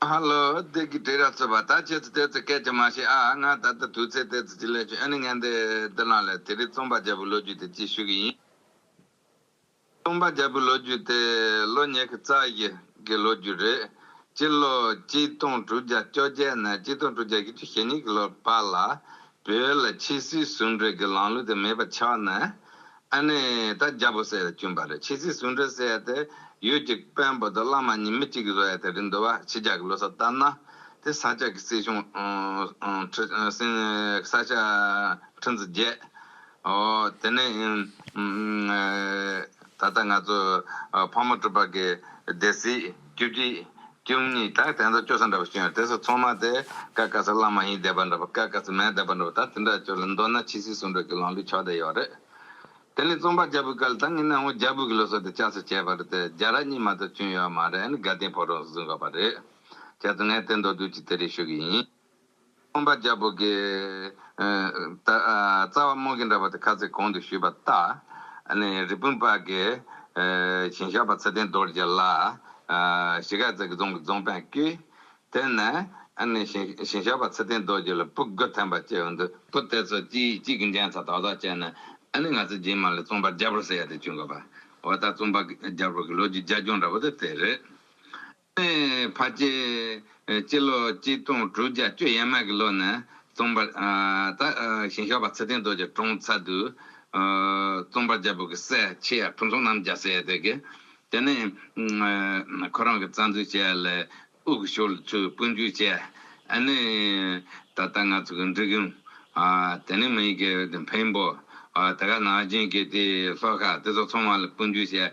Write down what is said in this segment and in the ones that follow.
ཧ་ལོ། བདེ་སྐྱིད་བྲིས་ར་ཚོད་པ་ད་ཁྱེད་ཚོ་དེ་ཚོའི་སྐད་ཀྱང་མ་ཤེས་ཨ་ང་ད་ལྟ་དུས་ཚོད་དེ་ཚོ་ཅི་ལས་བྱུང་ཨེ་ནི་ངན་དེ་འདི་ལངས་ལས་དེ་རིང་རྩོམ་པ་རྒྱལ་པོའི་ལོ་རྒྱུས་དེ་གཅིག་ཞུ་གི་ཡིན། རྩོམ་པ་རྒྱལ་པོའི་ལོ་རྒྱུས་དེ་ལོ་ཉེར་གི་རྩ་བཞི་གི་ལོ་རྒྱུས་རེད། སྤྱི་ལོ་གཅིག་སྟོང་དྲུག་བརྒྱ་བཅོ་བརྒྱད་ནས་གཅིག་སྟོང་དྲུག་བརྒྱ་ཡི་བཅུ་ཞེ་གཉིས་གི་ལོར་བར་ལ་བོད་ལ་ཕྱི་སྲིད་ཟུང་འབྲེལ་གྱི་ལམ་ལུགས་དེ་མེད་པ་ཆགས་ནས་ཨ་ནེ་ད་རྒྱ་བོད་སེ་ལ་བསྐྱུན་པ་རེད་ཕྱི་སྲིད་ཟུང་འབྲེལ་ཟེར་ཡ་དེ་ཡུལ་གྱི་དཔོན་པོ་དང་བླ་མ་གཉིས་མི་གཅིག་གི་བཟོ་ཡ་དེ་རེད་འདུག་བ་ཕྱི་རྒྱ་གི་ལོ་སར་ལྟར་ན་དེ་ས་སྐྱ་གི་སྲིད་གཞུང་ཁྲི་ས་སྐྱ་ཁྲི་འཛི་བརྒྱད་ཨོ་དེ་ནས་ད་ལྟ་ང་ཚོ་ཕག་མོ་སྤྲུལ་པ་གི་སྡེ་སྲིད། རྒྱུ་དེ། ཀྱུང་ནི་དག་དེ་ཚོ་སྐྱོ་ས་འདྲ་བ་ཞིག་ཡོང་དེ་སོ་ཚོང་མ་དེ་ཀ་ཀ་ས་བླ་མ་ཡིན་བསྡད་པ་འདྲ་བ་ཀ་ཀ་ས་མེད་བསྡད་པ་འདྲ་བ་ད་དེ་འདྲ་སྐྱོ་ལ་མདོར་ན་ཕྱི་སྲིད་ཟུང་འབྲེལ་གྱི་ལོང་བའི་ཕྱོགས་དེ་ཡོག་རེད། དེ་ནི་རྩོམ་པ་རྒྱ་བོད་ཀ་ལ་ད་ངེད་ནང་ངོ་རྒྱ་བོད་ཀྱི་ལོ་སོ་དེ་བསྐྱར་གསོ་བྱས་པ་རེད་དེ་རྒྱ་ར་གཉིས་མ་གཏོགས་བྱུང་ཡོག་མ་རེད་ཨ་ནི་དགའ་ལྡན་ཕོ་རོག་གཟིགས་འགོག་པ་རེད། ཁྱེད་ཚོ་ངས་བསྟན་འདོག་དུས་ཀྱི་དེ་རེད་ཞུ་གི་ཡིན། སྟོང་པ་རྒྱལ་པོ་དགའི། རྩ་བ་རྨོག་གིས་འདྲ་བ་དེ་ཁ་ཚིག་གོང་དུ་ཞུས་པ་ལྟ། རི་སྤུན་དཔལ་དགའི། བྱིན་ཞགས་པ་ཚེ་བརྟན་རྡོ་རྗེ་ལ། ཞི་ག་རྩེ་གི་རྫོང་གི་རྫོང་དཔོན་བསྐྱོད། དེ་ནས། བྱིན་ཞགས་པ་ཚེ་བརྟན་རྡོ་རྗེ་ལ་སྤུ་རྒོད་ཐན་པ་བཅས་འོ་འདུ། སྤུ་དེ་ཚོ་གཅིག་གཅིག་གིས་འགྲན་ཚ་དོག་དོག་བྱས་ནས། ང་ཚོའི་རྗེས་མ་ལ་རྩོམ་པ་རྒྱལ་པོར་ཟེར་ཡ་དེ་བྱུང་དགོས་པ། འོ་ད་རྩོམ་པ་རྒྱལ་པོ་གི་ལོ་རྒྱུས་རྒྱ་ཁྱོང་འདྲ་བོ་དེ་དེ་རེད། ནས་བར་བཅས། སྤྱི་ལོ་གཅིག་སྟོང་དྲུག་བརྒྱ་བཅུ་ཡས་མ་གི་ལོ་ནས་རྩོམ་པ་དག་ཞིང་ཞོགས་པ་ཚེ་བརྟན་རྡོ་རྗེ་གྲོང་ཚ་དུ། རྩོམ་པ་རྒྱལ་པོ་གི་སྲས་ཆེ་ཡབ་ཕུན་ཚོགས་རྣམ་རྒྱལ་སྲས་དེ་གའི། དེ་ནས་ཁོ་རང་གི་རྩ་འཛུགས་བྱས་ལ་དབུ་གུ་ཞོར་ལ་ཚུར་དཔོན་རྒྱུག་བྱས། ཨ་ནི་ད་ལྟ་ང་ཚོ་གི་འབྲི་གུང། དེ་ནས་མི་ཡི་གེ་འཕན་པོ། དེ་ག་ནག་རྒྱུན་གྱི་དེའི་ལྷོ་ཁ་དེ་ཚོ་ཚང་མ་ལ་དཔོན་རྒྱུག་བྱས།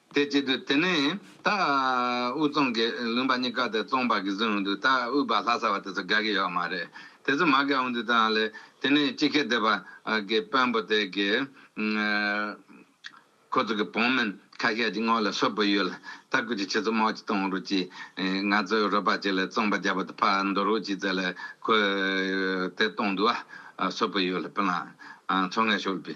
དེ་བྱེད་དུ་དེ་ནས་ད་དབུས་གཙང་གི་ལུང་པ་གཉིས་ཀ་དེ་གཙང་བར་གྱི་བཟོས་འོང་དུས་ད་དབུས་པ་ལྷ་ས་བ་དེ་ཚོ་དགའ་གི་ཡོད་མ་རེད་དེ་ཚོ་མ་དགའ་འོང་དུས་ད་ལས་དེ་ནས་སྤྱི་ཁེ་སྡེ་བ་གི་དཔོན་པོ་དེ་གི་ཁོ་ཚོ་གི་བོང་མིན་ཁ་ཤས་ཀྱི་སྔོ་ལ་སོད་པོ་ཡོད་ལ་ད་སྐུ་ཅི་ཆེ་ཚོ་མོག་ཅི་གཏོང་རུག་ཅིག་ང་ཚོའི་རོ་པ་ཅིག་ལ་གཙང་པ་རྒྱ་པོ་དེ་ཕ་འདོར་རུག་ཅིག་ཚེ་ལ་ཁོས་དེ་གཏོང་དུ་བ་སོད་པོ་ཡོད་ལ་པི་ལང་ཚོ་ངས་ཤོད་པི།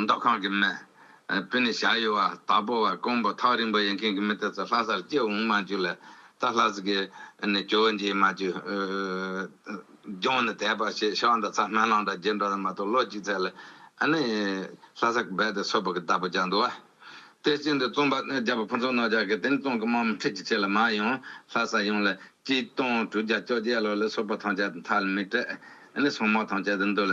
མདོ་ཁམས་ཀྱི་མི། བོད་ནས་ཞག་ཡོལ་བ་དྭགས་པོ་བ་ཀོང་པོ་ཐག་རིང་པོ་ཡིན་མཁན་གྱི་མི་དེ་ཚོ་ལྷ་སར་སྐྱེ་འོང་མ་འཇུག་ལ་ད་ལྷ་ས་གི་ནས་གྱོ་བོ་འཇིགས་མ་འཇུག། རྒྱང་ནས་དེད་པ་ཞེས་ཤོག་འདི་ཚ་སྨན་བླང་དང་རྗེས་འགྲོ་དང་མ་གཏོགས་ལོ་གཅིག་ཚད་ལ་ནི་ལྷ་ས་གི་སྦལ་དེ་སོ་ཕག་གི་བདག་པོ་རྒྱག་འདུག་བ། དེ་བཞིན་དུ་རྩོམ་པ་རྒྱ་བོ་ཕུན་ཚོགས་རྣོ་ལྗགས་ཀྱིས་དེང་རྩོམ་གྱི་རྨང་ཁྲིད་ཀྱི་ཆེད་ལ་མ་ཡང་ལྷ་ས་ཡོངས་ལ་སྐྱིད་སྟོང་དྲུག་བརྒྱ་བཅོ་བརྒྱད་ལོ་ལ་སོ་ཕག་ཐང་ཆད་དང་ཐག་ལ་མི་སྤྲད་ནས་སོ་མོག་ཐང་ཆད་དུ་འདུག་ལ་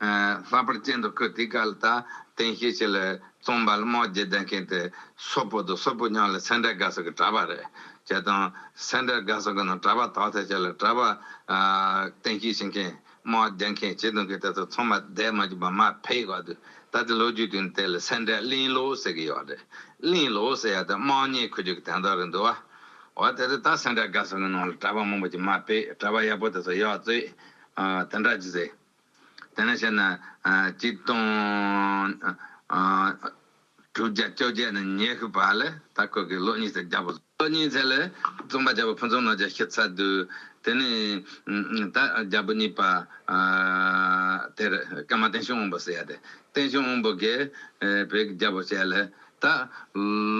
ལྷག་པར་སྤྱན་དུ་ཁུར་དེའི་སྐལ་དང་རྟེན་ཤེས་བྱས་ལ་རྩོམ་པ་རྨོག་རྒྱས་ལྡན་མཁན་དེ་སོ་པོ་དང་སོ་པོ་ཉོག་ལ་སེ་འབྲས་དགའ་ས་གི་གྲྭ་པ་རེད་ཅེས་དང། སེ་འབྲས་དགའ་ས་གི་ནང་གྲྭ་པ་དག་ཐལ་ཆེ་ལ་གྲྭ་པ། རྟེན་ཤེས་བྱེད་མཁན། རྨོག་རྒྱས་མཁན་བྱེད་དོན་གི་དེ་ཚོ་ཚང་མ་སྡད་མ་གྱུར་པ་མ་ཕེད་ག་དུས་ད་ལྟའི་ལོ་རྒྱུས་དུས་ནས་དེ་ལ་སེ་འབྲས་གླིང་ལོ་ཟེར་གི་ཡོད་རེད། གླིང་ལོ་ཟེར་ཡ་དེ་དམངས་གཉེར་ཁུལ་རྒྱུག་གི་དན་ཐོག་རེད་འདུག་བ། འོ་དེ་ཚོ་ད་སེ་འབྲས་དགའ་ས་གི་ནང་ལ་གྲྭ་པ་མང་པོ་ཅིག་མ་ཕེད་གྲྭ་པ་ཡག་པོ་དེ་ཚོ་ཡོད་ཚོད། དེ་འདྲ་ཇི་སྲིད། དེ་ནས་བཤད་ན། གཅིག་སྟོང། དྲུག་བརྒྱ་བཅོ་བརྒྱད་ནས་ཉི་ཤུ་བར་ལ་ད་ཁོད་ཀྱི་ལོ་གཉིས་ཚེ་བརྒྱ་པོ། ལོ་གཉིས་ཚེ་ལ་རྩོམ་པ་བརྒྱ་པོ་ཕུན་ཚོགས་ནོར་རྒྱལ་ཤི་ཚར་དུས། དེ་ནས་ད་བརྒྱ་པོ་གཉིས་པ། དེར་ཀརྨ་བསྟན་སྲུང་དབོན་པོ་ཟེར་ཡ་དེ། བསྟན་སྲུང་དབོན་པོ་གིས་བོད་ཀྱི་རྒྱལ་པོ་བྱས་ལ། ད་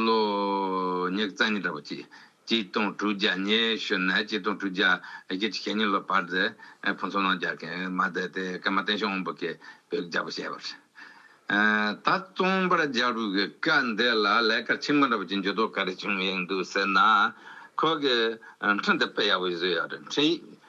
ལོ་ཉི་རྩ་གཉིས་འདྲ་པོ་གཅིག། གཅིག་སྟོང་དྲུག་བརྒྱ་ཉི་ཤུ་ནས་གཅིག་སྟོང་དྲུག་བརྒྱ་བརྒྱད་ཁྲི་ཞེ་གཉིས་ལོར་བར་དུ་ཕུན་ཚོགས་ནང་རྒྱལ་མཁན་མ་བསྡད་དེ་སྐར་མ་བསྟན་ཤོག་སྔོན་པོ་གི་བོད་ཀྱི་རྒྱལ་པོ་བྱས་པར། ད་རྩོམ་པར་རྒྱལ་པོ་གི་བཀའ་འདི་ལ་ལས་ཀ་ཆེན་པོ་འདྲ་པོ་ཅིག་འཇུག་དོགས་ག་རེ་བྱུང་ཡོད་འདུག་ཟེར་ན། ཁོ་གི་འཕྲིན་དེ་དཔེ་ཡག་པོ་ཞིག་བཟོས་ཡོད་རེད་འཕྲིན་ཡིག་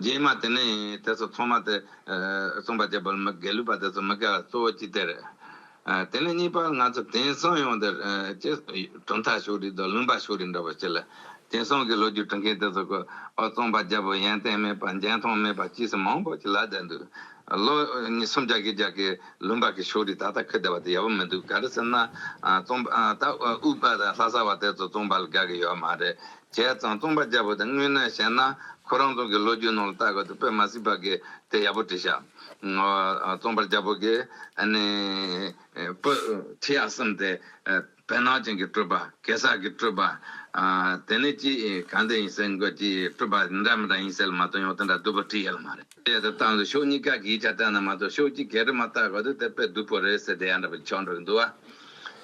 རྗེས་མ་དེ་ནི་དེ་ཚོ་ཚང་མ་དེ། རྩོམ་པ་རྒྱལ་པོར་མི་དགེ་ལུས་པ་དེ་ཚོ་མི་དགེ་བ་གཙོ་བོ་གཅིག་དེ་རེད། དེ་ནས་གཉིས་པ་ང་ཚོ་དེང་སང་ཡོང་འདིར། གྲུབ་མཐའ་ཕྱོགས་རིས་དང་ལུང་པ་ཕྱོགས་རིས་འདྲ་བོ་ཅི་ལ། དེང་སང་གི་ལོ་རྒྱུས་བྲི་མཁན་དེ་ཚོ་གོ། རྩོམ་པ་རྒྱལ་པོ་ཡན་ཏན་མེད་པ་འཇའ་འཐོང་མེད་པ་ཅི་ཟེར་མང་པོ་ཅིག་ལབ་བསྡད་འདུག། ལོ། སུམ་བརྒྱ་གྱི་རྒྱལ་ཁའི་ལུང་པ་གི་ཕྱོགས་རིས་ད་ལྟ་འཁོད་བསྡད་པ་དེ་ཡག་པོ་མི་འདུག་ག་རེ་ཟེར་ན། རྩོམ་པ་དྭོགས་པ་དང་ལྷ་ས་བ་དེ་ཚོ་རྩོམ་པ་ལ་དགའ་གི་ཡོད་མ་རེད། བྱས་ཙང་རྩོམ་པ་བརྒྱབ་པ་དེ་དངོས་གནས་བཤད་ན་ཁོ་རང་ཚོ་གི་ལོ་རྒྱུས་ནང་ལ་བལྟ་དགོས་འདུག་དཔེ་མ་སྲིད་པ་གི་དེ་ཡག་པོ་བྲིས་ཤག་རྩོམ་པ་རྒྱ་བོད་ཀྱི་ནི་པོ་བྲིས་ཡག་བསམ་སྟེ་བལ་ནག་ཅན་གྱི་སྤྲོས་པ་གེ་སར་གྱི་སྤྲོས་པ་དེ་ནི་ཅི་གང་དེ་ཡིན་ཟེར་འགོད་ཀྱི་སྤྲོས་པ་འདྲ་མི་འདྲ་ཡིན་ཟེར་ལ་མ་དོན་ཡོད་དེ་འདྲ་བསྡུས་པ་བྲིས་ཡག་ལ་མ་རེད། དེ་ལྟར་བཏང་ཚེ་ཕྱོགས་གཉིས་ཀ་གིས་ཆ་བསྟན་ན་མ་གཏོགས་ཕྱོགས་གཅིག་གིས་རེ་མ་བཏགས་བར་དུ་དེ་དཔེ་བསྡུ་བོ་རེད་ཟེར་དེ་ཡང་འདྲ་པར་ཆགས་འགྲོ་གི་འདུག་ཨ།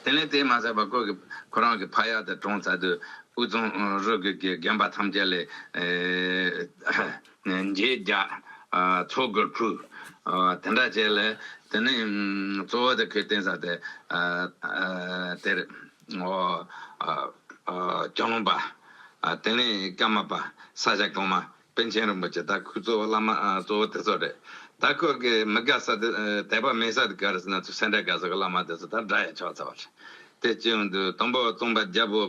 དེ་ནས་དེས་མ་ཚར་བར་ཁོ་གིས་ཁོ་རང་གི་ཕ་ཡག་དེ་གྲོངས་ཚར་དུས་དབུས་གཙང་རུ་རྒྱུད་ཀྱི་རྒན་པ་ཐམས་ཅད་ལས། མཇེས་རྒྱ། མཚོ་སྒོར་ཕུ། དེ་འདྲ་བྱས་ལ་དེ་ནས་གཙོ་བོ་དེ་ཁོའི་རྟེན་ས་དེ་དེར། ཨོ། ལྕང་ལུང་པ། དེ་ནས་སྐྱ་མ་པ། ས་ཞག་གོང་མ། པཎ་ཆེན་རིན་པོ་ཆེ་དྭགས་ཁུལ་གཙོ་བོ་བླ་མ་གཙོ་བོ་དེ་ཚོ་རེད། དྭགས་ཁུལ་གྱི་མི་དགའ་ས་དེ་དད་པ་མེད་ས་དེ་ག་རེ་ཟེར་ན་ཚོས་སེ་འབྲས་དགའ་ས་གི་བླ་མ་དེ་ཚོ་དང་འདྲ་ཡ་ཆོག་ཚར་བ་རེད། དེ་སྤྱི་ཡོངས་དུ་དང་པོ་རྩོམ་པ་རྒྱལ་པོ་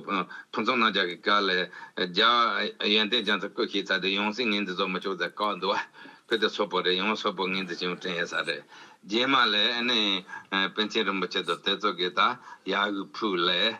ཕུན་ཚོགས་གནང་རྒྱ་གི་བཀའ་ལས་རྒྱལ་བ་ཡོན་ཏན་ཅན་ཚོ་བསྐོས་ཤིག་ཚར་དུས་ཡོངས་སྲིད་ངན་འདི་ཚོ་མི་ཆོག་ཚར་བཀའ་འདུག་བ། བོད་དེ་སོག་པོ་རེད་ཡོངས་སོག་པོ་ངན་འདི་བྱིན་བསྐྲན་ཡས་ས་རེད། རྗེས་མ་ལས་ཨ་ནི་པཎ་ཆེན་རིན་པོ་ཆེ་དང་དེ་ཚོ་གི་ད་ཡ་ཧུད་ཕུག་ལས།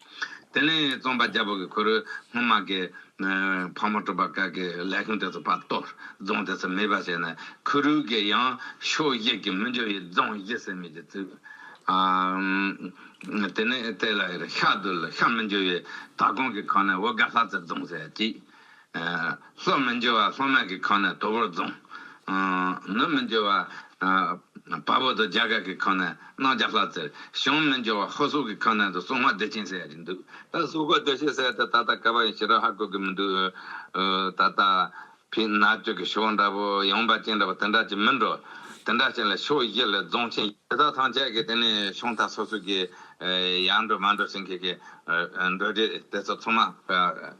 དེ་ནས་རྩོམ་པ་རྒྱལ་པོ་གིས་ཁོ་རོའི་སྔོན་མ་གི། ཕག་མོ་གྲུ་པ་ཀ་གི་ལས་ཁུངས་དེ་ཚོ་བར་སྟོར་རྫོང་དེ་ཚོ་མེད་པ་བྱས་ནས་ཁོ་རོའི་གི་ཡང་ཕྱོགས་བཞི་གི་མི་འབྱོར་བའི་རྫོང་བཞི་བསད་རྨས་ཀྱིས་བཙུགས། དེ་ནས་དེ་ལ་ཤ་དུལ་ཤ་མི་འབྱོར་བའི་དྭགས་གོང་གི་ཁག་ནས་འོ་དགའ་ལྷ་རྩེ་རྫོང་བསད་ཅིག། སྲོག་མི་འཇོ་བ་སྲོག་མ་གི་ཁང་ནས་དོ་བོར་བརྫུང། ནུབ་མི་འཇོ་བ་བ་བོ་དོ་རྒྱ་གར་གི་ཁང་ནས་སྣང་རྒྱ་ལྷ་རྩེར། བྱང་མི་འཇོ་བ་ཧོ་སོག་གི་ཁང་ནས་དོ་སྲུང་བ་བདེ་ཆེན་སའི་རིང་འདུག་ད་སྲུང་བ་བདེ་ཆེན་སའི་དེ་ད་ལྟ་ཀ་བ་ཡིན་ཞེས་ར་ཧ་བཀོད་གི་མི་འདུག་ད་ལྟ། བི་ན་སྤྱོད་ཀྱི་ཕྱོགས་འདྲ་བོ་ཡངས་པ་ཅན་འདྲ་བོ་དེ་འདྲ་ཅིག་མིན་འགྲོ། དེ་འདྲ་ཅན་ལ་ཕྱོགས་བཞི་ལས་རྫོང་ཆེན། དེ་དག་ཐང་ཆད་ཀྱི་དེ་ནས་ཕྱོགས་མཐའ་སོ་སོ་ཀྱི། ཡར་འགྲོ་མར་འགྲོ་ཞིང་གི་གི། འགྲོ་འདྲེ་དེ་ཚོ་ཚང་མ།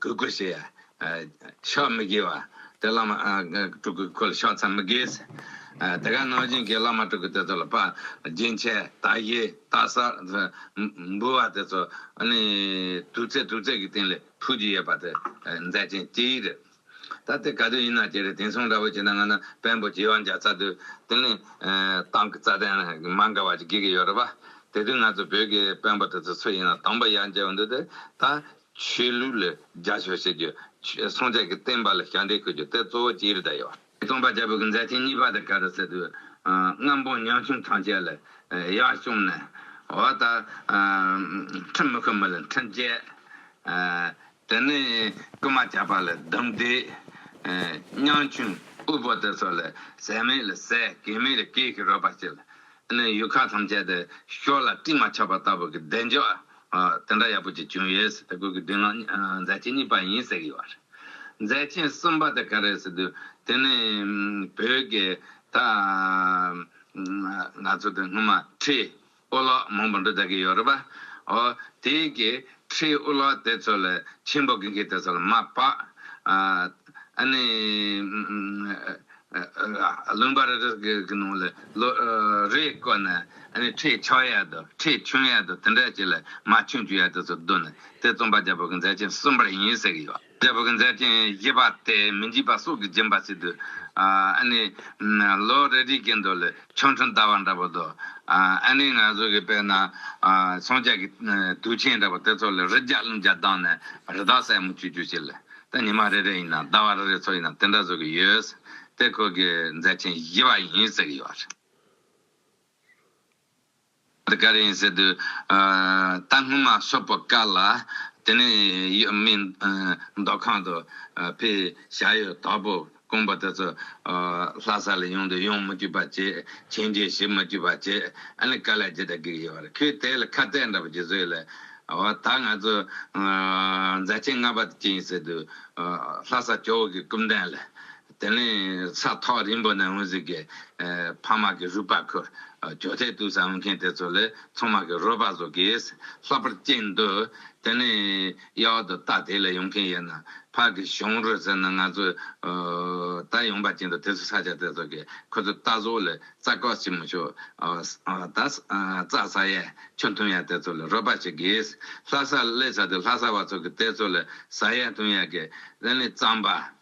གུས་བཀུར་བྱས། ཕྱག་མི་དགེ་བ། དེ་བླ་མ་དྲུག་གི་སྐུ་ལ་ཕྱག་འཚལ་མི་དགེ། དེ་ག་ནང་བཞིན་གྱི་བླ་མ་དྲུག་གི་དེ་ཚོ་ལ་པ། རྒྱན་ཆས། རྟ་བཞི། རྟ་གསར། འབུལ་བ་དེ་ཚོ། དུར་རྩེ་དུར་རྩེ་གྱི་སྟེང་ལས་ཕུལ་གྱི་ཡོད་པ་དེ་མཛད་ཅིང་སྤྱི་ཡི་རིགས། ད་ལྟའི་ག་དུས་ཡིན་ན་ཀྱེ་རེ་དེང་སང་འདྲ་བོ་བྱས་ན་ང་ན་བེམ་པོ་བྱིས་བ་འཇའ་ཚ་དུས་དེ་ནི་ཏང་གི་རྩ་དོན་མ་འགལ་བ་ཅིག་དགོས་ཀྱི་ཡོད་རེད་པ། དེ་དུས་ང་ཚོ་བོད་ཀྱི་བེམ་པོ་དེ་ཚོ་སུ་ཡིན་ན་དང་པོ་ཡར་འཇལ་བ་འདུག་དེ་ད་ཆོས་ལུགས་ལ་རྒྱ་ཕྱོགས་བྱེད་རྒྱུ། སྲོང་བཙན་གྱི་བསྟན་པ་ལ་ཞབས་འདེགས་ཁུར་རྒྱུ་དེ་གཙོ་བོ་ཅི་རེད་ད་ཡོད། སྟོང་པ་རྒྱལ་པོ་གི་མཛད་ཆེན་གཉིས་པ་དེ་ག་རེ་ཟེར་དུས་རྔམ་པོ་ཉམ་ཆུང་ཐམས་ཅད་ལ་ཡར་བཅོམ་ནས་འོ་ད་ཁྲིམས་མི་ཁུར་མི་ལ་ཁྲིམས་བཅད། དེ་ནས་རྐུན་མ་བཅག་པ་ལ་སྡོམ་བཟླས། སྙིང་ཆུང་དབུལ་པོ་དེ་ཚོ་ལ་ཟས་མེད་ལ་ཟས་གད་མེད་ལ་གད་ཞིག་རོལ་པར་བྱས་ལ། དེ་ནས་ཡུལ་ཁག་ཐམས་ཅད་དུ་ཤོ་ལ་སྤྲིན་མ་ཆགས་པ་ལྟ་བུ་གི་བདེ་མཆོག་དེ་འདྲ་ཡག་པོ་ཅིག་བྱུང་ཡོད་ཟེར་ཏེ་གོས་ཀྱི་སྡེ་ནང་མཛད་ཆེན་གཉིས་པ་ཡིན་ཟེར་གྱི་ཡོད་པ་རེད། མཛད་ཆེན་གསུམ་པ་དེ་ག་རེད་ཟེར་དུས་དེ་ནི་བོད་ཀྱི་ད་ང་ཚོ་དང་སྔོན་མ་ཁྲི་ཨོ་ལགས་མང་པོ་འགྲོ་ལྟ་གི་ཡོད་རེད་པ། ཨོ། དེ་གི་ཁྲིའི་ཨོ་ལགས་དེ་ཚོ་ལ་ཆེན་པོ་གི་གི་དེ་ཚོ་ལ་མ་པ། ཨ། ཨ་ནི། ལུང་པ་རེ་རེ་གི་གི་ནང་ལ་ལོ་རེ་བསྐོར་ནས་ཨ་ནི་ཁྲིའི་ཆགས་ཡ་དུ་ཁྲིའི་ཆུང་ཡ་དུ་དེ་འདྲ་ཅིག་ལ་མ་ཆུང་བཅུ་ཡ་དེ་ཚོ་བསྡུ་ནས་དེ་རྩོམ་པ་རྒྱ་བོད་ཀྱི་མཛད་ཆེན་གསུམ་པར་ཡིན་ཟེར་གི་ཡོད། རྒྱལ་བོ་གྱི་མཛད་ཆེན་བཞི་པ་སྟེ་མི་འཇིགས་པ་སྲོག་གི་སྦྱིན་པ་བྱེད་དུས། ཨ་ནི། ལོ་རེ་རེའི་དགེ་འདུན་ལས་ཆོ་འཕྲུལ་འདའ་བ་འདྲ་པོ་དང། ཨ་ནི་ང་ཚོ་གི་དཔེར་ན། ཚོང་བྱེད་ཀྱི་དུས་ཆེན་འདྲ་པོ་དེ་ཚོ་ལ་རི་བརྒྱ་ཀླུང་བརྒྱ་བདག་ནས་རི་དྭགས་སྲས་མོ་ཁྱུ་ཁྱུ་ཞིག་ལ། ད་ཉི་མ་རེ་རེ་ཡིན་ནམ་ཟླ་བ་རེ་རེ་ཚོ་ཡིན་ནམ་དེ་འདྲ་བཟོ་གི་ཡོད། དེ་ཁོ་གི་མཛད་ཆེན་བཞི་པ་ཡིན་ཟེར་གྱི་ཡོད། བར་ག་རེ་ཡིན་ཟེར་དུས། ད་སྔོན་མ་སོག་པོ་བཀག་ལ། དེ་ནས་ཡོད་མི་མདོ་ཁང་དུ་ཕེ་བཞག་ཡོད་དོག་པོ་དཀོན་པོ་དེ་ཚོ་ལྷ་ས་ལ་ཡོང་དུས་ཡོང་མི་འགྱུར་བ་བྱས་ཁྱེད་རྗེས་ཞི་མི་འགྱུར་བ་བྱས་ཨ་ལེ་ཀ་ལེ་ཇི་ལྟར་གིར་ཡོད་བར་ཁོས་དེ་ལ་ཁ་གཏད་འདྲ་པོ་ཇི་བཟོས་ལེ། འོ་ད་ང་ཚོ་མཛའ་ཆེན་ལྔ་པ་དེ་ཅི་ཡིན་ཟེར་དུས། ལྷ་ས་ཇོ་བོ་གིས་སྐུ་མདངས་ལས། དེ་ནས་ས་ཐོག་རིང་པོ་ནས་དངུལ་ཟིག་གི་ཕ་མ་གི་རུས་པ་ཁུར། གྱོ་ཐལ་བཏུལ་ས་འོང་མཁན་དེ་ཚོ་ལས་ཚང་མ་གི་རོལ་པ་བཟོ་གིས་ལྷག་པར་སྐྱེས་འདུག་དེ་ནས་གཡག་འོག་ཏུ་རྟ་དེ་ལས་ཡོང་མཁན་ཡོད་ན་ཕ་གི་གཞུང་རོལ་ཟེར་ན་ང་ཚོས་ད་ཡོང་པ་སྐྱེས་འདུག་དེ་ཚོ་ས་ཆ་དེ་ཚོ་གི་ཁོ་ཚོ་རྟ་བཟོ་ལས་རྩྭ་ཀོག་བྱེད་མི་ཆོག་ད་རྩྭ་ཟ་ཡས་ཆུ་འཐུང་ཡས་དེ་ཚོ་ལས་རོལ་པ་བྱེད་གིས་ལྷ་ས་ལས་ས་དེ་ལྷ་ས་བ་ཚོ་གི་དེ་ཚོ་ལས་ཟ་ཡས་འཐུང་ཡས་གིས་དེ་ནས་རྩམ་པ།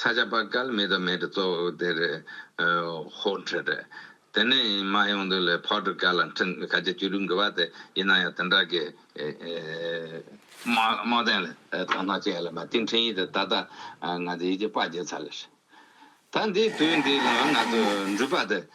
ས་ཆ་པ་སྐལ་མེད་དོ་མེད་དུ་གཙོ་བོ་དེ་རེད། ཧོ། འཕྲོད་རེད། དེ་ནས་མ་ཡོང་དུས་ལས་ཕོ་སྒྲུབ་སྐལ་ལ་འཕྲིན་ག་རྗེ་བཅུ་དྲུག་འབུལ་བ་དེ་ཡིན་ན་ཡང་དེ་འདྲ་གི། རྨོ་ལྡན་ལ་དོན་སྣང་ཅན་ལ་མ་ཏིའི་འཕྲིན་ཡིག་དེ་ད་ལྟ་ང་ཚོས་ཡིད་ཀྱི་དཔའ་བརྗེད་ཚར་ལ། ད་འདིའི་དུས་འདི་ལ་ང་ཚོས་འགྲུལ་པ་དེ།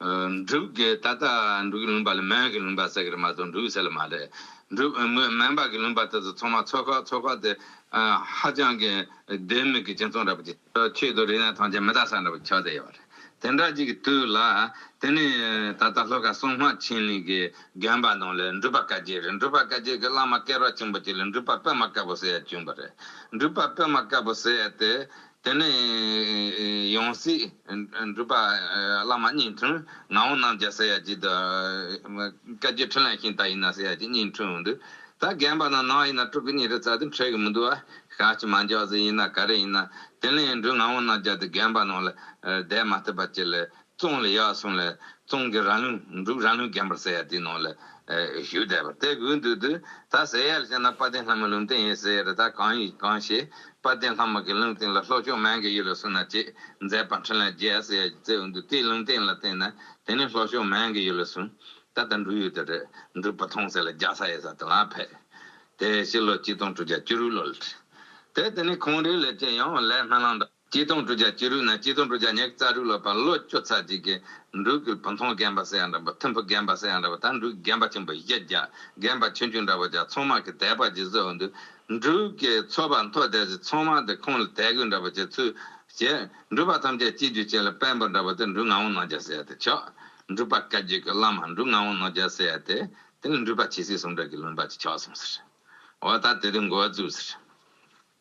འབྲུག་གི་ད་ལྟ་འབྲུག་གི་ལུང་པ་ལ་མོན་གྱི་ལུང་པ་ཟེར་གི་རེད་མ་གཏོགས་འབྲུག་ཟེར་ལ་མ་རེད། འབྲུག་དངོས་མོན་པ་གི་ལུང་པ་དེ་ཚོ་ཚང་མ་ཚོ་ཁག་ཚོ་ཁག་དེ་ཧ་ཅང་གི་བདེན་མེད་གི་སྤྱི་མཚུངས་རེད་པ་དེ། ཆོས་དང་རིག་གནས་ཐམས་ཅད་མི་གདའ་ས་འདྲ་པོ་ཆགས་བསྡད་ཡོད་པ་རེད། དེ་འདྲ་ཅིག་གི་དུས་ལ་དེ་ནས་ད་ལྟ་ལྷོ་ཁ་སྲུང་སྔགས་ཆེན་ལས་གི་རྒན་པ་ནང་ལས་འབྲུག་པ་བཀའ་རྒྱས་རེད་འབྲུག་པ་བཀའ་རྒྱས་གི་བླ་མ་སྐལ་རོག་ཆེན་པོ་ཅིག་ལ་འབྲུག་པ་པདྨ་དཀར་པོ་ཟེར་ཡ་བྱོན་པ་རེད་འབྲུག་པ་པདྨ་དཀར་པོ་ཟེར་ཡ་དེ་དེ་ནས་ཡང་སྲིད་སྒྲུབ་པ་བླ་མ་གཉིས་འཁྲུངས། ངག་དབང་རྣམ་རྒྱལ་སེར་ཡག་སྐྱིད་དུ། བཀའ་རྒྱུད་འཕྲིན་ལས་ཤིང་རྟ་ཡིན་ན་སེར་ཡག་སྐྱིད་གཉིས་འཁྲུངས་འདུག། ད་རྒན་པ་ན་ནང་ཡིན་ན་སྤྲུལ་སྐུ་གཉིས་རེ་བཙལ་དུ་འཕྲད་གི་མི་འདུག་བ། ཤ་ཆི་མ་འཇའ་ཟེར་ཡིན་ན་ག་རེ་ཡིན་ན། དེ་ལས་འབྲུག་ངག་དབང་རྣམ་རྒྱལ་དེ་རྒན་པ་ནང་ལ་བསྡད་མ་ཐུབ་པ་ཅི་ལས་ཙོང་ལི་ཡ་སོང་ལ་ཙོང་གི་རང་ལུས་འབྲུག་རང་ལུས་རྒན་པར་ཟེར་ཡ་དེའི་ནང་ལ་བཞུགས་བསྡད་པ་དེ་དགོས་འདུག་དུས་ད་ཟེར་ཡ་ལ་བཤད་ན་དཔལ་ལྡན་ལྷ་མོའི་ལུང་བསྟན་ཡིན་ཟེར་ཡ་ལ་ད་གང་ཡིན་གང་ཤེས་དཔལ་ལྡན་ལྷ་མོ་གི་ལུང་བསྟན་ལ་ལྷོ་ཕྱོགས་མན་གྱི་ཡུལ་ལ་སོང་ན་ཅེས་མཛད་པ་འཕྲིན་ལས་རྒྱལ་ཟེར་ཡ་གཅིག་བཙལ་འོང་འདུག་དེའི་ལུང་བསྟན་ལ་བལྟས་ན་དེ་ནི་ལྷོ་ཕྱོགས་མན་གྱི་ཡུལ་ལ་སོང་ད་ལྟ་འབྲུག་ཡུལ་དུ་རེད་འབྲུག་པ་ཐོང་ཟེར་ལ་རྒྱ་ས་ཡེ་ས་དུ་ལ་ཕེབས་དེ་ཕྱི་ལོ་གཅིག་སྟོང་དྲུག་བརྒྱ་བཅུ་རུ་ལོ་ལ་ཁྲིད་དེ་དེ་ནི་ཁོང་རིགས་ལས་ཅི་ཡང་ལས་སྨན་བླང་དང། སྐྱིད་སྡོང་གྲུ་བརྒྱ་སྐྱིད་རུས་ན་སྐྱིད་སྡོང་གྲུ་བརྒྱ་ཉེག་རྩ་རུས་ལོ་པ་ལོ་ཅོ་ཚ་རྗེས་ཀྱི་འབྲུག་གི་བུ་མཐོང་རྒན་པ་སེ་ཡ་འདྲ་འབུ་མཐོན་བུ་རྒན་པ་སེ་ཡ་འདྲ་བ་དང་འབྲུག་རྒན་པ་ཆེན་པོ་བཞི་བརྒྱ་རྒན་པ་ཆུང་ཆུང་འདྲ་བ་བརྒྱ་ཚོང་དམག་གི་དད་པ་བརྗེ་བཟོ་འོ་འདུག་འབྲུག་གི་ཚོ་པ་མཐོ་དད་ཀྱི་ཚོང་དམག་འདི་ཁོང་ལ་དད་གུས་འདྲ་བ་བྱེད་ཚུལ་བྱས་འབྲུག་པ་ཐམས་ཅད་སྐྱིད་རྒྱུ་བྱས་ལ་དཔལ་འབོར་འདྲ་བ་དེ་འབྲུག་ངག་དབང་ནོར་རྒྱ་སེ་ཡ་དེ་ཆོག་འབྲུག་པ་བཀའ་བརྒྱུད་ཀྱི་བླ་མ་འབྲུག་ངག་དབང་ནོར་རྒྱ་སེ་ཡ་དེ་དེ་ལ་འབྲུག་པ་ཇི་སྲིད་སོང་འདྲ་གི་ལུང་པ་ཅིག་ཆོག་གསུངས་ཟེར་འོ་ད་དེ་དུས་འགོ་བཙུགས་ཟེར།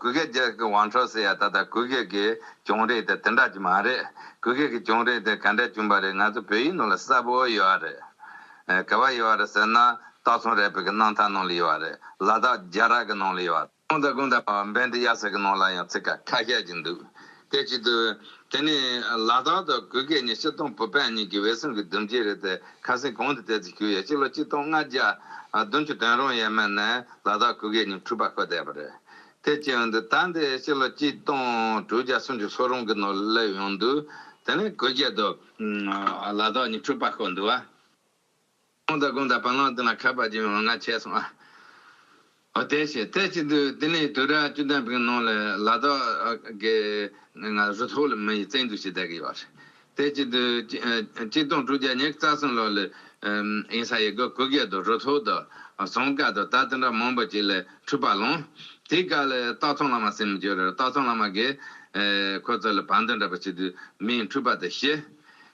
གུ་གེ་རྒྱལ་གྱི་ཝང་ཁྲོ་སི་ཡ་ད་ལྟ་གུ་གེ་གི་གྱོང་རིག་དེ་དེ་འདྲ་གྱི་མ་རེད། གུ་གེ་གི་གྱོང་རིག་དེ་ག་འདྲ་གྱོང་པ་རེད་ང་ཚོ་བོད་ཡིག་ནང་ལ་གསལ་པོ་ཡོད་ཨ་རེད། ག་བ་ཡོད་ཨ་རེད་ཟེར་ན་སྟག་ཚང་རལ་པའི་གི་སྣང་ཐང་ནང་ལ་ཡོད་ཨ་རེད་ལ་དྭགས་རྒྱ་ར་གི་ནང་ལ་ཡོད་ཨ་རེད། ཀུན་ད་ཀུན་ད་བན་དེ་ཡ་ས་གི་ནང་ལ་ཡང་ཚིག་ཁ་ཁ་ཤས་ཀྱི་འདུག། དེ་བྱེད་དུ། དེ་ནི་ལ་དྭགས་དང་གུ་གེ་གཉིས་སྤྱི་སྟོང་བུ་སྤེན་གཉིས་ཀྱི་བའི་གསུམ་གྱི་བསྡུམ་གྱིས་རེད་དེ་ཁ་སེང་གོང་དུ་དེ་ཚོ་ཞུས་ཡ་གཅིག་ལོ་གཅིག་སྟོང་ལྔ་བརྒྱ་བདུན་ཅུ་དོན་རུང་ཡས་མས་ནས་ལ་དྭགས་གུ་གེ་གཉིས་འཁྲུག་པ་ཁོ་བསྡད་པ་རེད་དེ་བྱས་ཡོང་དུས་ད་འདི་སྤྱི་ལོ་གཅིག་སྟོང་དྲུག་བརྒྱ་སུམ་ཅུ་སོ་རུང་གི་ནང་སླེབས་ཡོང་དུས་དེ་ནི་གུ་གེ་དང། ལ་དྭགས་གཉིས་འཁྲུག་པ་ཁོ་འདུག་ཨ། ཁོང་དང་ཁོང་དང་བ་ལང་དུ་ལ་ཁ་བབས་ཀྱིས་ང་ང་བྱས་སོང་ཨ། ཨོ་དེ་ཞེས་ཐལ་གཅིག་ཏུ་དེ་ནས་དུས་ར་བཅུ་ལྡན་པའི་ནང་ལ་ལ་དྭགས་ཀྱི་ང་ང་རུ་ཐོག་ལ་མི་ཡི་བཙན་འཛུལ་ཞིག་བསྡད་ཀྱི་ཡོད། ཐལ་གཅིག་ཏུ་གཅིག་སྟོང་དྲུག་བརྒྱ་ཉེར་རྩ་གསུམ་ལོར་ལ་ཡིན་ས་ཡི་གུ་གུ་རྒྱལ་དང་རུ་ཐོག་དང་ཟངས་དཀར་དང་དར་དེ་འདྲ་མང་པོ་ཅིག་ལ་འཁྲུགས་པ་ལོང། དེའི་སྐབས་ལ་སྟག་ཚང་བླ་མ་སེམས་མི་འགྱོད་ར་སྟག་ཚང་བླ་མ་གིས་ཁོ་ཚོ་ལ་བ་འདི་འདྲ་པོ་ཞིག་དུ་མས་འཁྲུགས་པ་དང་ཞི།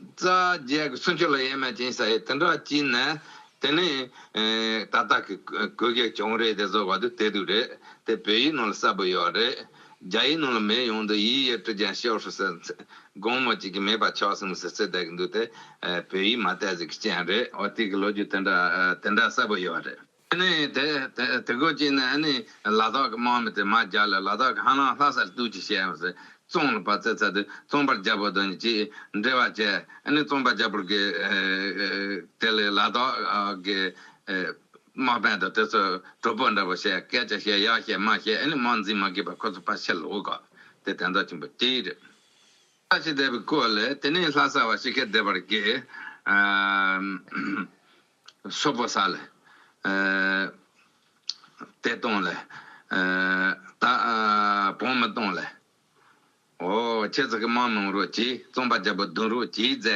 རྩ་བརྒྱད་ཀྱི་སུན་ཕྱུར་ལ་ཡེ་མ་ཅན་ས་ཡིས་དེ་འདྲ་བགྱིས་ན། དེ་ནི། ད་ལྟ་གི་གོས་གས་གྱོང་རེད་དེ་བཟོ་བ་དུ་དེ་དུ་རེད་དེ་བོད་ཡིག་ནང་ལ་གསལ་པོ་ཡོད་རེད། རྒྱ་ཡིག་ནང་ལ་མེད་ཡོང་དུས་ཡིག་ཡོད་དྲི་ཀྱང་ཤོར་ཧྲུལ་ཟེར། དགོང་མོ་གཅིག་གི་མེད་པ་ཆོག་གསུངས་ཟེར་ཚུལ་བསྡད་ཀྱི་འདུག་དེ་བོད་ཡིག་མ་བལྟས་ཟིག་གི་རྐྱེན་རེད། དེ་གི་ལོ་རྒྱུས་དེ་འདྲ་གསལ་པོ་ཡོད་རེད། ཨ་ནི་དེ་དེ་ཁོ་ཅིག་ནི་ཨ་ནི་ལ་དྭགས་ཀྱི་དམག་མི་དེ་མ་བརྒྱག་ལ་ལ་དྭགས་ཀྱི་ཧ་ལང་ལྷ་སར་བཏུལ་གྱིས་བྱས་ཡོང་ཟེར་བཙོང་ལ་བ་ཚེ་ཚ་དུས་བཙོང་པར་རྒྱལ་པོ་དང་གཅིག་འབྲེལ་བ་བྱས་ཨ་ནི་བཙོང་པ་རྒྱལ་པོར་གི་དེ་ལས་ལ་དྭགས་ཀྱི་དམག་དཔོན་དང་དེ་ཚོ་གྲོགས་པོ་འདྲ་བོ་ཞེས་སྐད་ཆ་བཤད་ཡག་བཤད་དམའ་བཤད་ཨ་ནི་དམག་འཛིན་མ་དགོས་པར་ཁོ་ཚོ་ཕར་ཕྱིར་ལོག་གོ་དེ་དེ་འདྲ་ཆེན་པོ་སྐྱེ་ཡི་རེད། ལྷ་ཞིག་བསྡད་པའི་སྐོར་ལས་དེ་ནི་ལྷ་ས་བ་ཞིག་གིས་བསྡད་པར་གི། སོགས་པ་ས་ལ་དེ་སྟོང་ལ་དག་བོང་མི་སྟོང་ལ་འོ་ཁྱེད་ཚོ་གི་མང་གནང་རོགས་གྱིས་རྩོམ་པ་བརྒྱ་པོ་བདུན་རོགས་གྱིས་མཛད་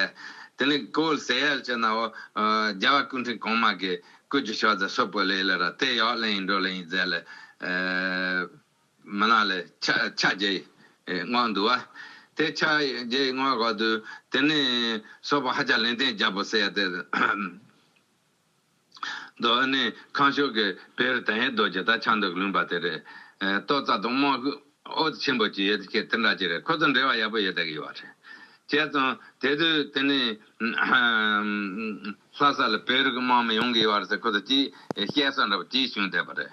དེ་ནི་ཀོལ་ཟེར་ཡལ་ཅི་ནའོ་རྒྱལ་བ་སྐུ་འཕྲེང་གོང་མ་གི་སྐུ་རྒྱུ་ཤོག་རྫ་སོགས་པོ་ལས་ལ་ར་དེ་ཡག་ལན་ཡིན་འགྲོ་ལན་ཡིན་མཛད་ལ། མི་ལ་ལས། ཕྱག་རྒྱ་ཡི་སྔགས་འདུ་བ། དེ་ཕྱག་རྒྱ་ཡི་སྔགས་བར་དུ། དེ་ནས་སོགས་པ་ཧ་ཅང་ལན་བརྟན་བརྒྱ་པོ་གསལ། རྡོ་ནི་ཁང་ཤོག་གི་བེར་དང་ཡེ་རྡོ་རྗེ་དང་ཕྱག་མདོག་ལུང་པ་དེ་རེད། ཏོག་རྩ་དང་རྨོག་ཨོ་ཆེན་པོ་བཅས་ཡོད་ཁྱེད་དེ་འདྲ་བྱེད་རེད་ཁོ་ཚོ་འབྲེལ་བ་ཡག་པོ་ཡོད་ད་གི་ཡོད་རེད། བྱས་སོང་དེ་དུས་དེ་ནས་ལྷ་ས་ལ་བེར་གི་དམག་མི་ཡོང་གི་ཡོད་རེད་ཟེར་ཁོ་ཚོ་གྱིས་བཤད་སོང་འདྲ་པོ་གྱིས་བྱུང་བསྡད་པ་རེད།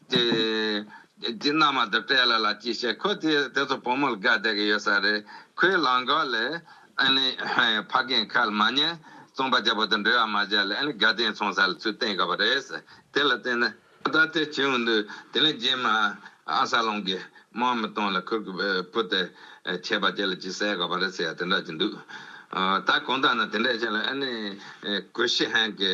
དེ་རྗེས་མནའ་མ་དེ་སྤྲད་ལ་ལ་ཅི་བྱེད་ཁོས་དེ་དེ་ཚོ་བུ་མོར་དགའ་བསྡད་ཀྱི་ཡོད་ས་རེད་ཁོས་ལང་ཀ་ལས་ཨེ་ལེ་ཕ་རྒན་ཁལ་མ་ཉན་རྩོམ་པ་རྒྱ་བོ་དང་འབྲེལ་བ་མ་བྱས་ལ་ཨེ་ལེ་དགའ་ལྡན་ཚོང་ས་ལ་ཚུར་བསྟན་གི་པ་རེད་དེ་ལ་བརྟེན་ན། ད་དེ་བྱེད་འོང་དུས་དེ་ལས་རྗེས་མ་ཨ་ས་ལོང་གིས་དམག་མི་གཏོང་ལ་ཁོས་གི་བུ་དེ་བྱས་པ་དེ་ལ་ཅི་ཟེར་གི་པ་རེད་ཟེར་ཡ་དེ་འདྲ་གྱི་འདུག་ད་གོང་ལྟར་ན་དེ་འདྲ་བྱས་ལ་ཨེ་ལེ་གོས་ཤི་ཧན་གི།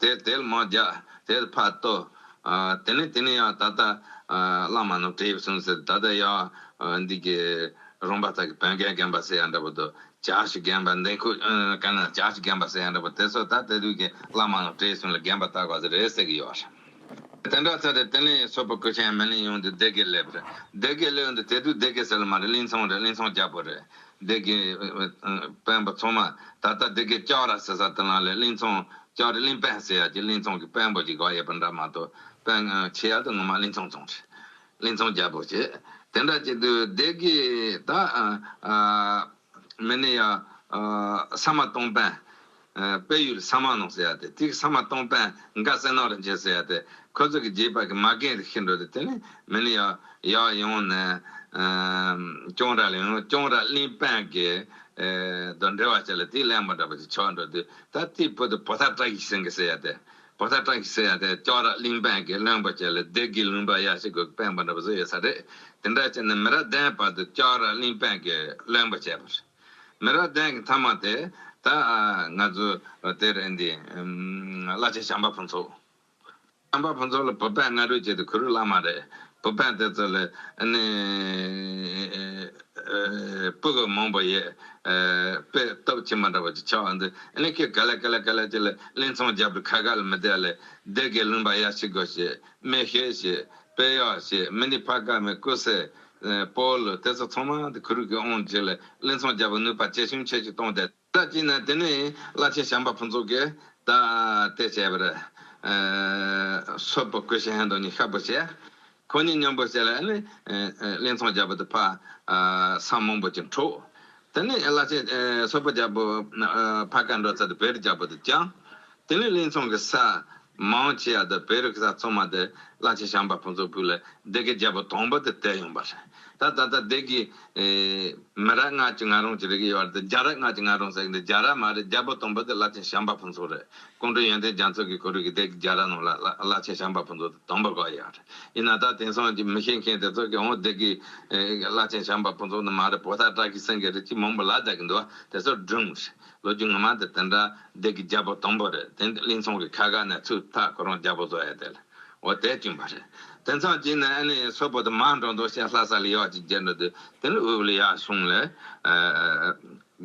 དེར་དལ་མོ་རྒྱག་དེར་ཕར་ལྟོ། དེ་ནས་དེ་ནས་ཡང་ད་ལྟ་བླ་མ་ནོར་བྲིས་གསུངས་ཟེར་ད་ལྟ་ཡང་འདི་གི་རོང་པ་དག་གི་བོན་རྒན་རྒན་པ་ཟེར་ཡ་འདྲ་པོ་དུ་ཇག་ཞིག་རྒན་པ་འདི་ཁུ་ཀ་ན་ཇག་ཞིག་རྒན་པ་ཟེར་ཡ་འདྲ་པོ་དེ་ཚོ་ད་དེ་དུས་ཀྱི་བླ་མ་ནོར་བྲིས་གསུངས་ལ་རྒན་པ་བཏགས་པ་ཟེར་རེད་ཟེར་གི་ཡོད་རེད། དེ་འདྲ་ཟེར་རེད་དེ་ནས་སོ་པ་ཀུ་ཆེན་མེ་གླིང་ཡོང་དུས་སྡེ་དགེ་སླེབས་རེད་སྡེ་དགེ་སླེབས་འདུག་དེ་དུས་སྡེ་དགེ་ཟེར་ལ་མ་རེད་གླིང་ཚང་རེད་གླིང་ཚང་རྒྱ་པོ་རེད་སྡེ་དགེ། དཔོན་པོ་ཚང་མ་ད་ལྟ་སྡེ་དགེ་ལྕགས་ར་ཟེར་ས་དེ་ལ་ལས་གླིང་ཚང་ལྕགས་རི་གླིང་དཔོན་ཟེར་ཡ་གྱི་གླིང་ཚང་གི་དཔོན་པོ་གྱི་དགའ་ཡས་པ་འདྲ་མ་ཏོ་དཔོན་ཆེ་ཡ་དུ་ངོ་མ་གླིང་ཚང་ཚང་རེད་གླིང་ཚང་རྒྱལ་པོ་ཆེ་དེ་འདྲ་གྱི་དུ་སྡེ་དགེ་ད་མི་ནི་ཡ་ས་མ་སྟོང་དཔོན། དཔལ་ཡུལ་ས་མ་ནོག་ཟེར་ཡ་དེ་ཐིག་ས་མ་སྟོང་དཔལ་མགར་བསེ་ནོག་རིན་ཆེན་ཟེར་ཡ་དེ་ཁོ་ཚོ་གི་རྗེས་དཔག་གི་མ་རྒན་རིགས་ཤི་འགྲོ་དེ་དེ་ནི་མི་ནི་ཡོ་ཡོ་ཡོང་ནས་སྐྱོང་ར་ལ་ཡོང་སྐྱོང་ར་གླིང་དཔལ་དགེ་རྡོ་འདྲེ་བ་བྱས་ལ་དེའི་གླེང་བ་འདྲ་པོ་ཅིག་ཆོག་འགྲོ་དུས་ད་ཐིག་བུ་དེ་བོ་ད་བཀྲ་ཤིས་སེང་གེ་ཟེར་ཡ་དེ་བོ་ད་བཀྲ་ཤིས་ཟེར་ཡ་དེ་སྐྱོང་ར་གླིང་དཔལ་དགེ་བློན་པོ་བྱས་ལ་བདེ་དགེ་ལུང་པ་ཡག་ཤི་དགོས་ཀྱི་དཔལ་འབར་འདྲ་པོ་བཟོ་ཡོད་ས་རེད་དེ་འདྲ་བྱས་ནས་མི་ར་བདེན་བར་དུ་སྐྱོང་ར་གླིང་དཔལ་དགེ་བློན་པོ་བྱས་པ་རེད། མི་རབས་ལྡན་གྱི་མཐའ་མ་དེ་ད་ང་ཚོའི་དེར་འདི་བླ་ཆེན་བྱམས་པ་ཕུན་ཚོགས། བྱམས་པ་ཕུན་ཚོགས་ལ་བུ་ཕན་སྔ་རོལ་བྱས་ཏེ་གུ་རུ་བླ་མ་རེད། བུ་ཕན་དེ་ཚོ་ལས་ནི་སྤུ་གུ་མང་པོ་ཡོད། དཔེ་སྟོབས་ཁྱི་མ་འདྲ་བ་ཅིག་ཆགས་འོང་དུས་ནི་ཁྱི་ག་ལེ་ག་ལེ་ག་ལེ་ཅིག་ལ་གླིང་ཚང་རྒྱབ་ཏུ་ཁ་ག་ལ་མི་བསྡད་ལེ་བསྡད་གི་གླིང་པ་ཡར་ཕྱི་དགོས་ཞེས་སྨྲས་ཤོད་ཞེས་དཔེ་གཡོག་ཞེས་མི་འདི་ཕ་དཀར་མོའི་སྐུ་སྲས། པོ་ལ་གཏད་སོ་ཚང་མ་དེ་གུ་རུས་ཀྱིས་དབང་བྱས་ལ་གླིང་ཚང་རྒྱལ་པོ་ནུས་པ་སྐྱེད་བྱུང་ཆེ་ཞིག་བཏང་སྟེ། ལྟ་ཅི་ན་དེ་ནས་བླ་ཆེན་བྱམས་པ་ཕུན་ཚོགས་ཀྱིས་བདག་གཏད་བྱས་པར། སོལ་པོ་ཀུ་ཤ་ཧན་དང་ནི་ཤ་པོ་བྱས། ཁོ་གཉིས་མཉམ་པོར་བྱས་ལ་ནི། གླིང་ཚང་རྒྱལ་པོ་དེ་ཕ། སངས་མང་པོ་ཅིག་འཁྲུགས། དེ་ནས་བླ་ཆེན་སོལ་པོ་རྒྱལ་པོ། ཕ་ཀ་འགྲོ་ཚད་དུ་བེར་རྒྱལ་པོ་དེ་བསྐྱངས། དེ་ནས་གླིང་ཚང་གི་ས། མ་འོངས་ཕྱི་ཡར་དུ་བོད་རིགས་གསར་ཚོགས་མ་དེ་གླ་ཆེན་ཞང་པ་ཕུན་ཚོགས་ཕུ་ལས་སྡེ་དགེ་རྒྱལ་པོ་དང་པོ་དེ་བསྟད་ཡོང་པ་རེད་ད་ད་ལྟ་སྡེ་དགེ་མི་རག་སྔགས་ཀྱི་ང་རོང་གྱི་རིགས་ཡོད་བར་དུ་རྒྱ་རག་སྔགས་ཀྱི་ང་རོང་ཟེར་གི་འདུག་རྒྱ་རག་མ་རེད་རྒྱལ་པོ་དང་པོ་དེ་གླ་ཆེན་ཞང་པ་ཕུན་ཚོགས་རེད་ཀོང་སྤྲུལ་ཡོན་ཏན་རྒྱ་མཚོ་གི་གོ་རུས་ཀྱི་སྡེ་དགེ་རྒྱ་རག་རྣམས་ལ་གླ་ཆེན་ཞང་པ་ཕུན་ཚོགས་དེ་དང་པོ་གོ་ཡོད་རེད་ཡིན་ན་ད་དེང་སང་གི་མི་ཤེས་མཁན་དེ་ཚོ་གིས་འོང་སྡེ་དགེ་གླ་ཆེན་ཞང་པ་ཕུན་ཚོགས་ནི་མ་རེད་བོ་ད་བཀྲ་ཤིས་སེང་གེ་རིགས་ཀྱི་མང་པོ་ལ་བསྡད་ཀྱི་འདུག་བ་དེ་ཚོ་སྒྲུང་རེད། ལོ་རྒྱུས་ངོ་མ་དེ་དེ་འདྲ་བདེ་གི་རྒྱལ་པོ་དང་པོ་རེད་དེ་འདྲའི་གླིང་ཚོང་གི་ཁ་ག་ནས་ཚུར་ཐག་ཁོ་རང་རྒྱལ་པོ་བཟོ་ཡས་དེ་ལ་འོ་དེ་བཅུན་པ་རེད་དེ་མཚམས་གཅིག་ནས་ཨ་ནེའི་སོ་པོ་དེ་མ་འགྲོ་འདུག་ཤེས་ལྷ་ས་ལ་ཡོག་ཅིག་རྒྱལ་འགྲོ་དུས་དེ་ནས་དབུས་ལ་ཡག་བྱུང་ལས་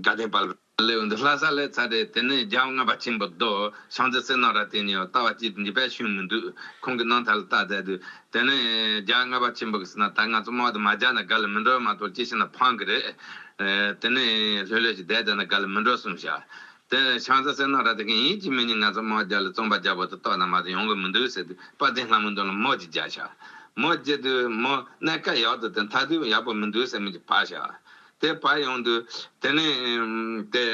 དགའ་ལྡན་པ། ལེའུ་འདི་ལྷ་ས་ལས་ཚར་རེད་དེ་ནས་རྒྱལ་བ་ལྔ་པ་ཆེན་པོ་རྡོ་ཤངས་ཚེ་བསོད་ནམས་ར་བསྟན་ནས་ཡང་ལྟ་བ་སྐྱིད་འདི་བས་ཤུན་མི་འདུག་ཁོང་གི་གནང་ཐལ་ལ་ལྟ་མཛད་དུས་དེ་ནས་རྒྱ་རྔ་པ་ཆེན་པོ་གིས་ཟེར་ན་ད་ང་ཚོ་སྨྲ་བ་དེ་མ་རྒྱག་ན་དགའ་ལ་མི་འགྲོ་མ་གཏོགས་ཅི་བྱས་ན་ཕངས་གི་རེད། དེ་ནས་ལྷོད་ལྷོད་ཀྱིས་བསྡད་བསྡད་ན་དགའ་ལ་མི་འགྲོ་གསུངས་བྱ། དེ་ནས་ཆང་ས་སེར་ནག་ར་དེ་གས་ཡིན་གཅིག་མི་ཉིད་ང་ཚོ་སྨྲ་བ་རྒྱག་ལ་རྩོམ་པ་རྒྱག་པོ་དེ་ལྟོགས་ན་མ་གཏོགས་ཡོང་གི་མི་འདུག་ཟེར་དུས་དཔའ་གདེང་ལྷ་མོའི་འདོན་ལ་མོ་ཅིག་རྒྱག་བྱ། མོ་རྒྱག་དུས་མོ་གནས་སྐབས་ཡག་ཏུ་དེ་མཐའ་དུས་ཡག་པོ་མི་འདུག་ཟེར་མོ་ཅིག་བག་བྱ། དེ་བག་ཡོང་དུ། དེ་ནས། དེ།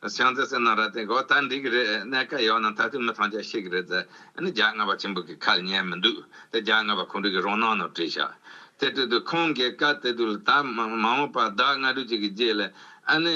བྱང་རྩེ་སེར་ནག་རལ་གྲི་གོ། ད་འགྲིག་གི་རེད་གནས་སྐལ་ཡོད་ན་ད་དུས་མི་ཐང་ཅད་ཤེས་ཀྱི་རེད་ཟེར། ཨ་ནི་རྒྱ་རྔ་པ་ཆེན་པོ་གི་ཁ་ལ་ཉན་མི་འདུག་དེ་རྒྱ་རྔ་པ་ཁོང་དྲུག་གི་རོང་ནང་ནོར་བྲིས་ཤག་དེ་དྲུག་དུ་ཁོང་གིས་བཀའ་སྟེ་དུ་ལ་ད་མ་འོངས་པར་བདག་རྔ་དྲུག་ཅིག་གི་རྗེས་ལས་ཨ་ནི།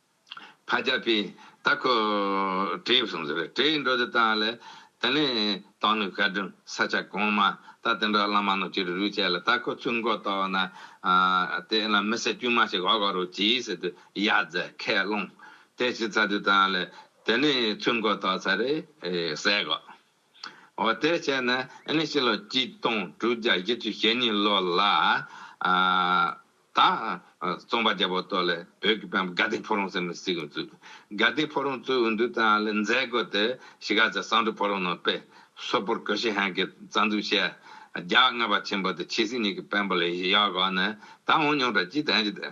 བ་བརྒྱ་པའི་རྟ་ཁོ་བྲེའི་བསྲུང་ཟེར་བས་བྲེའི་འགྲོ་དེ་དག་ལས། དེ་ནས་དང་ནུ་ཤ་སྦྲུམ་ས་ཆ་གོང་མ་རྟ་དེ་འདྲ་བླ་མ་ནོར་གྱི་རུས་རུས་བྱས་ལ་རྟ་ཁོ་ཚུར་མགོ་བཏོག་ན། དེ་ལ་མི་སེར་དཀྱུས་མ་ཞིག་ཨོ་ག་རུ་གྱིས་ཟེར་དུས་ཡ་རྫས་ཁས་བླངས། དེ་བྱས་ཚར་དུས་དང་ལས། དེ་ནས་ཚུར་མགོ་བཏོག་ཚར་རེས་ཟས་གོ། འོ་དེ་བྱས་ན་ཨེ་ནས་ཕྱི་ལོ་གཅིག་སྟོང་དྲུག་བརྒྱ་བཞི་བཅུ་ཞེ་གཉིས་ལོ་ལ། ད། རྩོམ་པ་རྒྱལ་པོ་སྟོད་ལས་བོད་ཀྱི་བན་བོན་དགའ་ལྡན་ཕོ་རོང་ཟེར་ནས་སྲིད་གཞུང་བཙུགས། དགའ་ལྡན་ཕོ་རོང་བཙུགས་འོས་འདུ་དང་ལས་མཛད་སྒོ་དེ་ཞི་ག་ཟེར་སང་དྲུག་ཕོ་རོང་ནང་དཔེ་སོ་པོར་གོ་ཤི་ཧན་གྱི་རྩ་འཛུགས་བྱས། རྒྱ་རྔ་པ་ཆེན་པོ་དེ་ཆི་སི་ཉིད་ཀྱི་བན་བོན་ལས་གཞི་ཡག་གོ་ནས་ད་འོང་མྱོང་གྲ་ཅི་དེ་འཇི་དེ།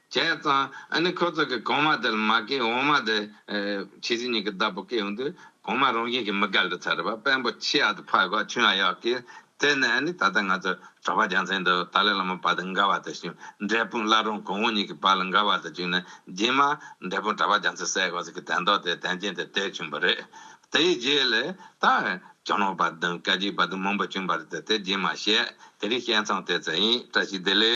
བྱས་ཙང་ཨ་ནི་ཁོ་ཚོ་གི་གོང་མ་དེ་ལ་མ་སྐད་འོག་མ་དེ། ཕྱི་ཟིན་གཉིས་ཀྱི་བདག་པོ་སྐད་འོང་དུས་གོང་མ་རང་བཞིན་གྱིས་མི་དགའ་ལུས་ཚར་བ་དཔོན་པོ་ཆི་ཡག་དེ་ཕ་གོ་ཆུང་ཡག་ཡག་གིས་བཙལ་ནས་ཨ་ནི་ད་ལྟ་ང་ཚོ་གྲོགས་པ་རྒྱག་མཚན་འདུག་ཏཱ་ལའི་བླ་མ་བ་དང་འགའ་བ་དང་ཞིང་འབྲས་སྤུན་བླ་རུང་གོང་བུ་གཉིས་ཀྱི་བ་ལ་འགའ་བ་དང་བཅུག་ནས་རྗེས་མ་འབྲས་སྤུན་གྲྭ་པ་རྒྱག་མཚན་གསལ་གོ་ཟེར་གི་དན་ཏོག་དེ་དན་ཅན་དེ་དེ་བྱུང་བ་རེད། དེའི་རྗེས་ལས་ད། གྱ་ནོམ་བ་དང་སྐད་ཅིག་བ་དང་མང་པོ་བྱུང་བ་རེད་དེ་དེ་རྗེས་མ་བཤད་དེ་རིང་བཤད་མཚམས་བཏེགས་ཚར་ཡིན་བཀྲ་ཤིས་བདེ་ལེགས།